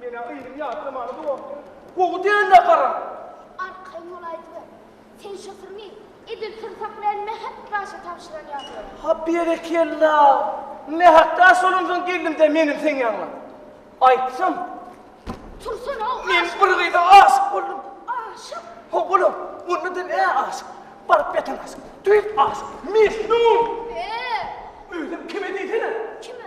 Menä yzyny ýatlamana dowamdy. Gowy däl-ä garaň. Arkaýyn bol aýdyber. Sen şo syryňy edil syrsak bilen Mähek daşa tabşyran ýaly. Ha berekella. Mähek daş bolansoň geldim-de meniň seň ýanyňa. Aýtsam. Tursana-ow aşyk. Men bir gyza aşyk boldum. Aşyk? Haw bolam. Onda-da nä aşyk. Baryp ýatan aşyk. Düýp aşyk. Mejnun. Be! Özem kime diýsene. Kime?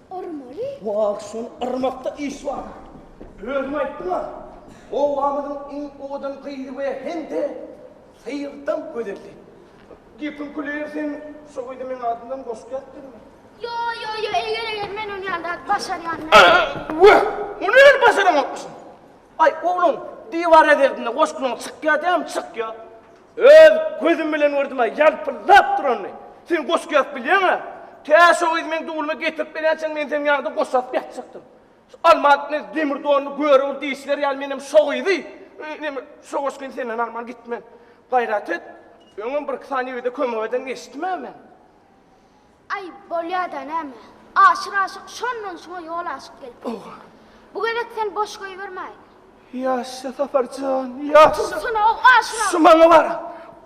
Urmaly? Wah, şol yrmakda iş bar. Özüň aýtdyň-a, obamyzyň iň owadan gyzy we hem-de syýrdan gözeldi. Gepiň küleri sen şo gyzy meň adymdan goşup ýatdyňmy? Ýo-ýo-ýo, eger-eger men ony ýa-da başarýanmy? Wah, ony hem başaranokmyşyn. Aý, oglan, diwar ezirdinde goşgyň çykýa diýäm, çykýa. Öz gözüm bilen gördüm-ä, ýalpyldap duranyny. Sen goşgy ýazyp bilýäň-ä? Tä şo gyz meň dublumy getirip berýänçäň, men seniň ýanyňda goşgy ýazyp ýatjakdym. Şu almat ne demir donly göre ur diýişiler ýaly menem şo gyzy, ine, şo goşgyny senden alman gitmen. Gaýrat et, öňem birki sany ýigide kömek eden eşitdim-ä men. Aý, bolýa-da näme. Aşyr aşyk şondan şoňa ýol aşyk gelipdir. Bu gezek sen boş goýbermäýin. Ýaşja, Sapar jan, ýaşja! Dursana, o aşyr aşyk. Şu maňa bar.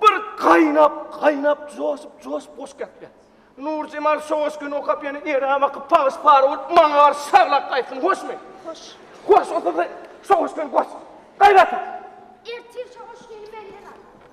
Bir gaýnap, gaýnap, joşup, joşup goşgy ýatypýar. Nurjemal şo goşgyny okap ýene ere bakyp pagyş-pagy bolup maňa garşy şaglap gaýtsyn, hoşmy? Hoş. Hoş, onda-da şo goşgyny goş. Gaýrat et! Ertir şo goşgyny menden al.